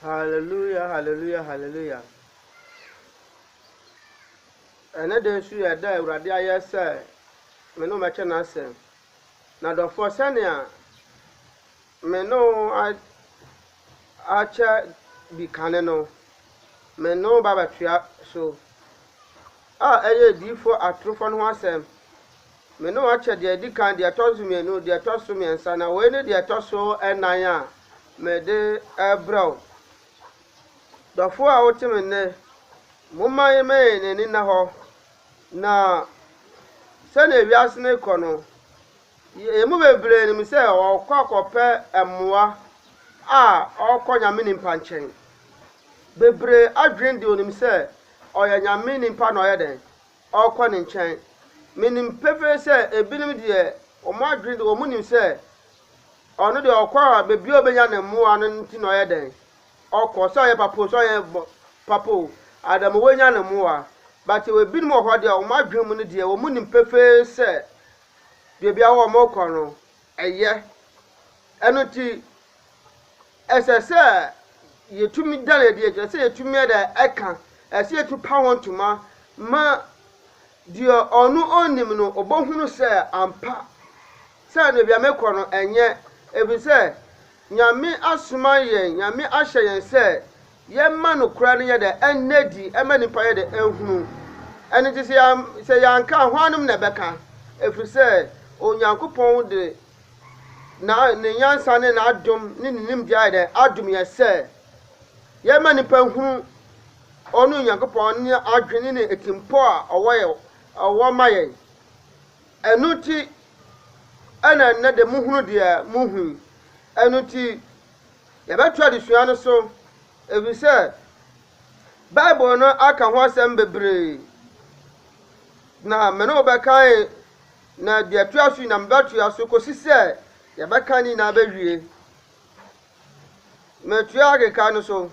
Hallelujah, hallelujah, hallelujah. Ɛnɛ da nso yɛ da a Awurade ayɛ sɛ me ne wɔbɛkyɛ n'asɛm. Na dɔfoɔ sɛnea Me no a akyɛ bi kane no, me no ba bɛtoa so, a ɛyɛ adiyifoɔ atorofoɔ no ho asɛm, me no akyɛ deɛ ɛdi kan, deɛ ɛtɔ so mmienu, deɛ ɛtɔ so mmiɛnsa, na wei ne deɛ ɛtɔ so ɛnan a mede rebrɛ wo. Dɔfoɔ a wote me nne, momma yɛmmɛn n'ani nna hɔ, na sɛdeɛ wiase no rekɔ no, Yɛn mu bebree nim sɛ wɔkɔ akɔpɛ mmoa a wɔkɔ Nyame nimpa nkyɛn. Bebree adwene de onim sɛ ɔyɛ Nyame nimpa na ɔyɛ dɛn? Ɔkɔ ne nkyɛn. Menim pefee sɛ ebinom deɛ wɔn adwene de wɔn nim sɛ ɔno deɛ ɔkɔ a baabi a ɔbɛnya ne mmoa no nti na ɔyɛ dɛn? Ɔkɔ. Sɛ ɔyɛ papa o, sɛ ɔyɛ papa o, Adamu wanya ne mmoa. But ebinom wɔ hɔ deɛ wɔn adwene mu no deɛ wɔn nim pefee sɛ beebi a wɔkɔ no yɛ. Ɛno nti, ɛsɛ sɛ yɛtumi da no adi, ɛsɛ sɛ yɛtumi yɛ dɛ ɛka, ɛsɛ sɛ yɛtumi pa ho ntoma ma deɛ ɔno ɔnnim no ɔbɛhunu sɛ ampa sɛ baabi a mekɔ no ɛnyɛ, ɛfiri sɛ Nyame asoma yɛn, Nyame ahyɛ yɛn sɛ Yɛma nokorɛ no yɛ dɛ ɛnna adi, ɛma nnipa yɛ dɛ ɛhunu. Ɛno nti sɛ yɛam, sɛ yɛanka a, hwannom na ɛbɛka? Ɛfiri sɛ Onyankopɔn de na, Ne nyansa ne N'adom ne Ne nimdeɛ ayɛ dɛ adom yɛn sɛ yɛma nnipa nhunu Ɔno Onyankopɔn ne adwene ne atirimpɔ a Ɔwɔ yɛ, Ɔwɔ ma yɛn. Ɛno nti na ɛnnɛ de mohunu deɛ mohu yi. Ɛno nti Yɛbɛto adesua no so efisɛ Bible no aka ho asɛm bebree. Na me ne wo bɛkan na deɛ ɛtoa so nyinaa mebɛtoa so kɔsi sɛ yɛbɛka ne nyinaa bɛwie. Metoa akeka no so.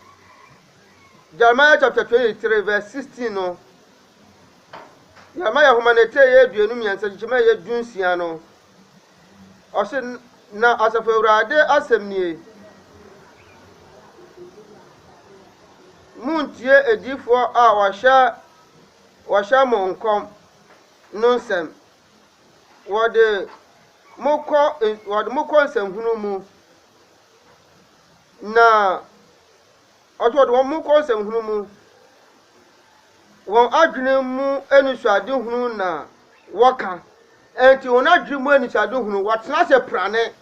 Jeremiah chapter 23 verse 16 no. Jeremiah nhoma no ɛtɛ yɛ aduonu mmiɛnsa kyekyɛm a ɛyɛ du nsia no. Ɔse, Na Asafo Awurade asɛm nie, Monntie adiyifoɔ a wɔhyɛ mo nkɔm no nsɛm. Wɔde mo kɔ nsɛnhunu mu, na. Ɔso wɔde wɔn ho kɔ nsɛmhunu mu. Wɔn adwene mu anisoadehunu na wɔka. Enti wɔn adwene mu anisoadehunu, wɔatena ase prane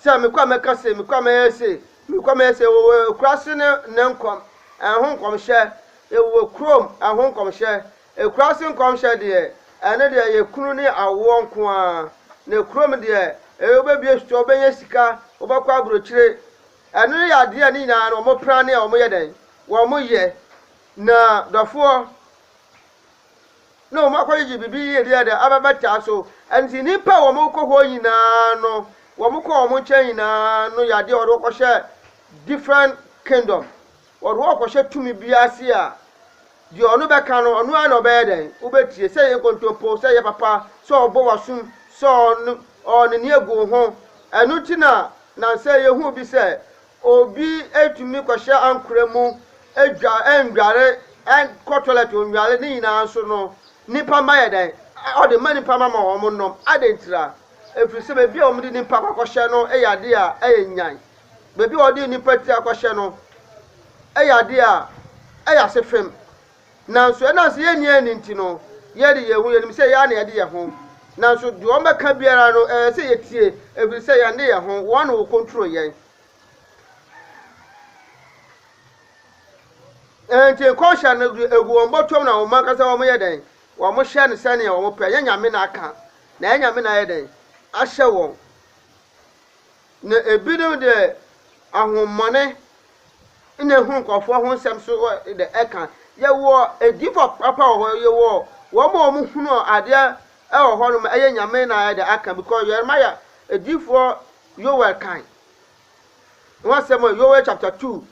sɛ mekɔ a mɛka se, mekɔ a mɛyɛ se, mekɔ a mɛyɛ se. Wɔwɔ akuraase ne ne nkɔm, ɛho nkɔmhyɛ. Wɔwɔ kurom, ɛho nkɔmhyɛ. Akuraase nkɔmhyɛ deɛ, ɛno deɛ ɛyɛ kunu ne awoɔ nko ara. Na kurom deɛ, ɛyɛ wobɛbue store, wobɛnya sika, wobɛkɔ aburokyire. Ɛno no yɛ adeɛ a ne nyinaa no wɔn pra ne a wɔn yɛ dɛn? Wɔn yɛ. Na dɔfoɔ, na wɔn akɔgyegye biribi yie deɛ dɛ abɛbɛtaa so. Ɛnti nnipa a wɔn kɔ hɔ nyinaa no, wɔn kɔ wɔn nkyɛn nyinaa no yɛ adeɛ a wɔde wɔkɔhyɛ different kingdom. Wɔde wɔkɔhyɛ tumi bi ase a Deɛ ɔno bɛka no, ɔno ara na ɔbɛyɛ dɛn? Wobɛtie. Sɛ ɛyɛ nkontompo, sɛ ɛyɛ papa, sɛ ɔbɔ wo asom, sɛ ɔno, ɔɔ n'ani agu wo ho. Ɛno nti na nnansa yi huu bi sɛ obi tumi kɔhyɛ ankorɛ mu, dwa, ɛnnware, ɛnkɔ toilet ɔnnware, ne nyinaa nso no, nnipa mma yɛ dɛn? Ɔde ma nnipa mma ma wɔn nnom. Adɛn ntira? Ɛfiri sɛ baabi a wɔde nnipa kɔ akɔhyɛ no yɛ adeɛ a ɛyɛ nyan. baabi a wɔde nnipa ti akɔhyɛ no yɛ adeɛ a ɛyɛ ase fem. Nanso ɛnam sɛ yɛnni ani nti no, yɛde yɛn ho yɛnim sɛ yɛn ara na yɛde yɛn ho. Nanso deɛ wɔbɛka biara no, ɛyɛ sɛ yɛtie, ɛfiri sɛ yɛn de yɛn ho, wɔn na wɔkɔntro yɛn. Enti nkɔnhyɛ no egu wɔn bɔtɔm na wɔn ankasa wɔn yɛ dɛn? Wɔn hyɛ no sɛnea wɔn pɛ. Ɛnyɛ nyame na aka, na ɛnyɛ nyame na ayɛ dɛn? Ahyɛ wɔn. Na ebinom de ahommɔne na ehu nkurɔfoɔ ho nsɛm nso wɔ de ɛka. Yɛwɔ adiyifoɔ papa wɔ hɔ, yɛwɔ wɔn a wɔhunu adeɛ wɔ hɔnom, ɛyɛ Nyame na ɛde aka because Yeremiah adiyifoɔ Yoel kan ho asɛm wɔ Yoel chapter two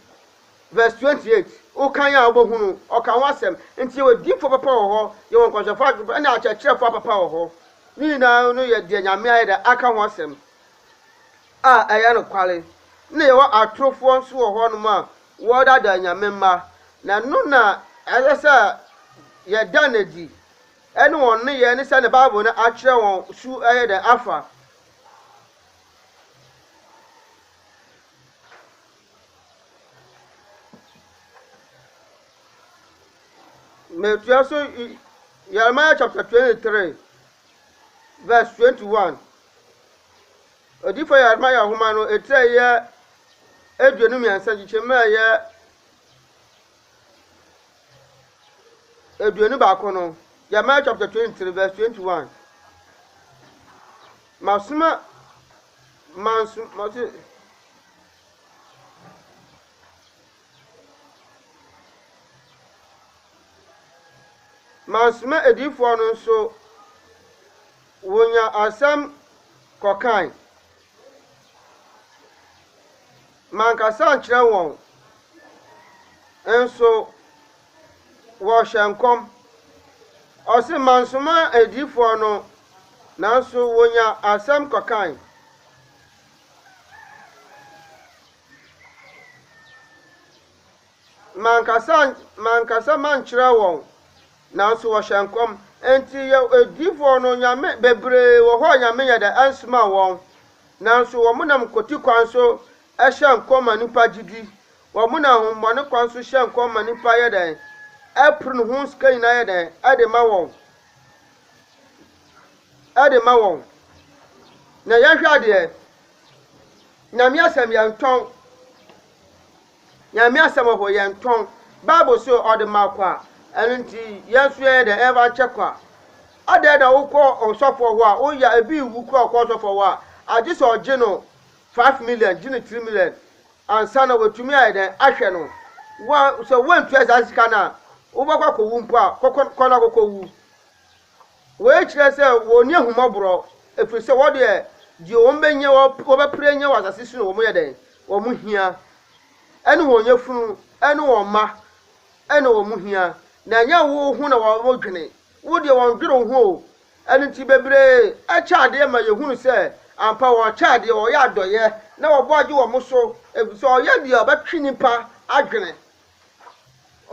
verse twenty eight. Wokan a wobɛhunu ɔka ho asɛm. Nti yɛwɔ adiyifoɔ papa wɔ hɔ, yɛwɔ nkɔnhyɛfoɔ adwuma ɛne akyerɛkyerɛfoɔ papa wɔ hɔ. Ne nyinaa no yɛ deɛ Nyame ayɛ de aka ho asɛm a ɛyɛ nokware, na yɛwɔ atorofoɔ nso wɔ hɔnom a wɔdaadaa Nyame mma, na ɛno na ɛsɛ sɛ yɛda no adi, ɛne wɔn nneyɛɛ ne sɛdeɛ Bible no akyerɛ wɔn su yɛ dɛn afa. Metua so Yeremiah chapter 23. vs 21. Odiyifo Yeremia nhoma no etsir a ɛyɛ eduonu mmiɛnsa nkyekyɛmu a ɛyɛ eduonu baako no, Jeremiah chapter 23 verse 21. Masoma manso mase Mansoma adiyifoɔ no nso, wɔnyaa asɛm kɔkae. Mankasa ankyerɛ wɔn, nso wɔhyɛɛ nkɔm. Ɔse mansoma adiyifoɔ no, nanso wɔnyaa asɛm kɔkae. Mankasa an mankasa mankyerɛ wɔn, nanso wɔhyɛ nkɔm. Enti yɛ adiyifoɔ no, Nyame, bebree wɔ hɔ a Nyame nyɛ dɛ ansomaa wɔn, nanso wɔnam nkote kwan so hyɛ nkɔm ma nnipa gye di, wɔnam ahohommɔne kwan so hyɛ nkɔm ma nnipa yɛ dɛn? ɛpere ne ho sika nyinaa yɛ dɛn? ɛde ma wɔn, ɛde ma wɔn. Na yɛhwɛ adeɛ, Nyame asɛm yɛntɔn, Nyame asɛm ɔhɔ yɛntɔn, Bible se ɔde ma kwa, ɛno nti yɛn nso yɛyɛ dɛ ɛba nkyɛ kwa. Adɛn na wokɔ ɔsɔfoɔ hɔ a woya ebi wu kora ɔkɔ ɔsɔfoɔ hɔ a agye sɛ ɔgye no five million gye no three million ansa na watumi ayɛ dɛn ahwɛ no wa sɛ wantua saa sika no a wobɛkɔ akɔwu mpo a kɔkɔ kɔ na kɔkɔ wu. Wei kyerɛ sɛ wɔnni ahummɔborɔ, ɛfiri sɛ wɔn deɛ, deɛ wɔbɛnya, wɔbɛpere anya wɔ asase so no, wɔyɛ dɛn? Wɔn hia. Ɛne wɔn yafunu, ɛne wɔn mma, ɛna wɔn hia. Na ɛnyɛ wo ho na wɔdwene. Wo deɛ, wɔndwene wo ho o. Ɛno nti, bebree kyɛ adeɛ ma yɛhunu sɛ, ampa, wɔkyɛ adeɛ, wɔyɛ adɔeɛ, na wɔbɔ gye wɔn so, ɛfiri sɛ wɔyɛ deɛ ɛbɛtwe nnipa adwene.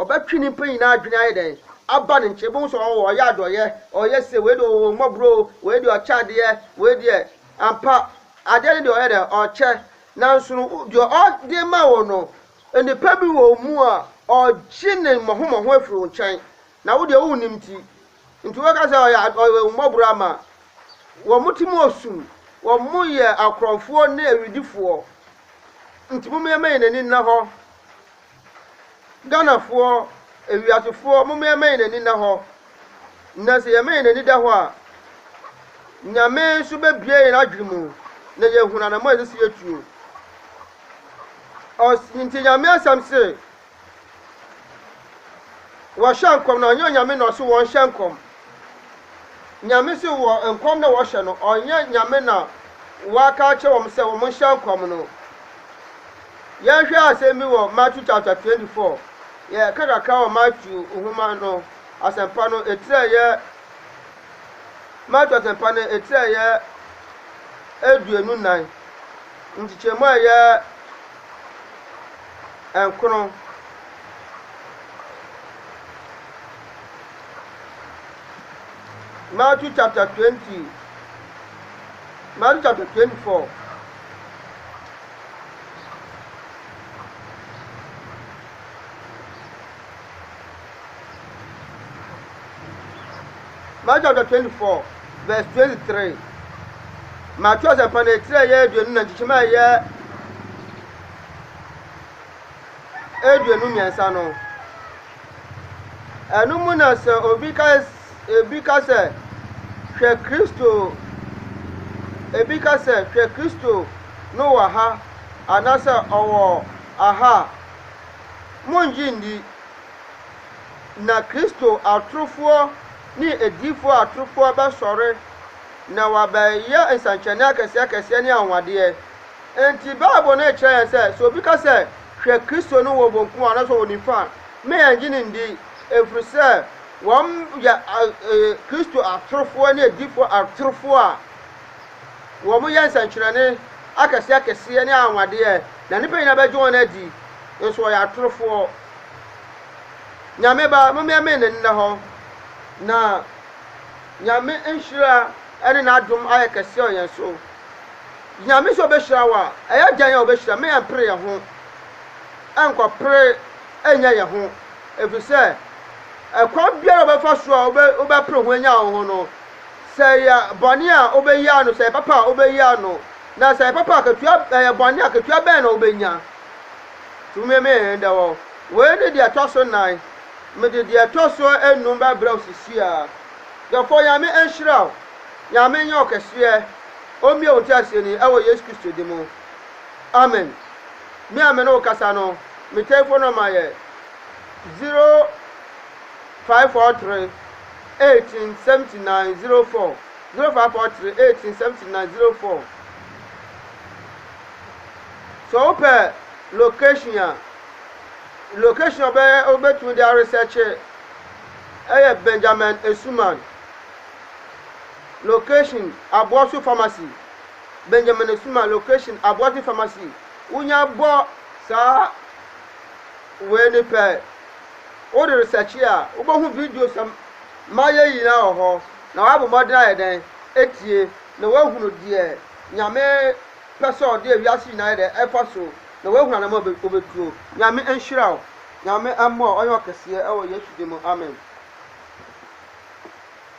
Ɔbɛtwe nyimpa nyina adwen ayɛ dɛn, aba ne nkyɛn. Ibohu sɛ ɔwɔ hɔ, ɔyɛ adɔyɛ, ɔyɛ sei, wei de ɔwɔ ehumbɔbɔr o, wei de ɔkyɛ adeyɛ, wei deɛ, ampa, adeɛ no deɛ ɔyɛ dɛn, ɔkyɛ. Nanso no, deɛ ɔde ma wo no, nnipa bi wɔ mu a, ɔgye ne mmɔho-mmɔho firi wo nkyɛn. Na wo deɛ wo nnim nti nti wobɛka sɛ ɔyɛ ahummɔborɔ ama wɔn ti mu ɔsum wɔn yɛ akorɔmfoɔ ne awidifoɔ nti momeɛma yɛn ani nna hɔ Ghanafoɔ awiasefoɔ momeɛma yɛn ani nna hɔ na sɛ yɛma yɛn ani da hɔ a Nyame nso bɛbie yɛn adwene mu na yɛhunu anamɔ a ɛsɛ sɛ yɛtuo ɔs nti Nyame asɛm se Wɔhyɛ nkɔm na ɔnnyɛ Onyame na ɔse wɔnhyɛ nkɔm. Nyame se wɔ nkɔm na wɔhyɛ no, ɔnnyɛ Nyame na Ɔaka akyerɛ wɔn sɛ wɔn nhyɛ nkɔm no. Yɛnhwɛ asɛm bi wɔ Matthew chapter 24, yɛka kakra wɔ Matthew nhoma no asɛmpa no ɛtirɛyɛ Matthew asɛmpa no ɛtirɛyɛ aduonu nan nkyekyɛmu a ɛyɛ nkron. Matthew chapter twenty, Matthew chapter twenty-four. Matthew chapter twenty-four, verse twenty-three. Matthew asɛmpa na etire yɛ aduonu na nkyekyem a ɛyɛ aduonu mmiɛnsa no, ɛno mu na sɛ obi ka ebi ka sɛ hwɛ Kristo ebi ka sɛ hwɛ Kristo no wɔ ha anaasɛ ɔwɔ aha a, mongye nni. Na Kristo atorofoɔ ne adiyifoɔ atorofoɔ bɛsɔre na wɔabɛyɛ nsɛnkyerɛnne akɛseakɛseɛ ne anwanwadeɛ. Enti Bible no rekyerɛ yɛn sɛ, sɛ obi ka sɛ, Hwɛ, Kristo no wɔ benkum anaasɛ ɔwɔ nifa a, na yɛnnye no nni, ɛfiri sɛ wɔyɛ Kristo atorofoɔ ne adiyifoɔ atorofoɔ a wɔyɛ nsɛnkyerɛnne akɛseɛ akɛseɛ ne anwanwadeɛ, na nnipa nyinaa bɛgye wɔn adi, nso wɔyɛ atorofoɔ. Nyame Ba, mommeɛmee ne nnɛ hɔ, na Nyame nhyira ne n'adom ayɛ kɛseɛ wɔ yɛn so. Nyame sɛ ɔbɛhyira wo a, ɛyɛ dɛn a ɔbɛhyira ma yɛmpere yɛn ho nkɔpere nyɛ yɛn ho? Ɛfiri sɛ, ɛkwan biara a wobɛfa so a wobɛpere ho anya wo ho no, sɛ ɛyɛ bɔne a wobɛyi ano, sɛ ɛyɛ papa a wobɛyi ano, na sɛ ɛyɛ papa a katua, ɛyɛ bɔne a katua bɛn na wobɛnya? Nti womeme yɛn dɛ wɔ. Wei ne deɛ ɛtɔ so nan. Mede deɛ ɛtɔ so enum bɛbrɛ wo sisi a. Dɔfoɔ, Nyame nhyira wo. Nyame nyɛ wo kɛseɛ. Ɔmmue wo nteaseɛ ni ɛwɔ Yesu Kristo din mu. Amen. Me a me ne wo kasa no, me telephone number yɛ zero five four three eighteen seventy nine zero four zero five four three eighteen seventy nine zero four. Sɛ wo pɛ location a, location a ɔbɛyɛ wobɛtumi de aresɛkye ɛyɛ Benjamin Esuman. Location, Aboaso Pharmacy, Benjamin Asuma Location, Aboaso Pharmacy, Wonya bɔ saa wei no pɛ, wode resɛkye a, wobɛhu videos a mayɛ nyinaa wɔ hɔ, na woabɔ mmɔden ayɛ dɛn? Atie, na woahunu deɛ Nyame pɛ sɛ ɔde wiase nyinaa yɛ dɛn? Ɛfa so, na woahunu anamɔ a wobɛtuo. Nyame nhyira wo. Nyame mmoa wo. Ɔnyɛ ɔkɛseɛ wɔ Yesu din mu. Amen.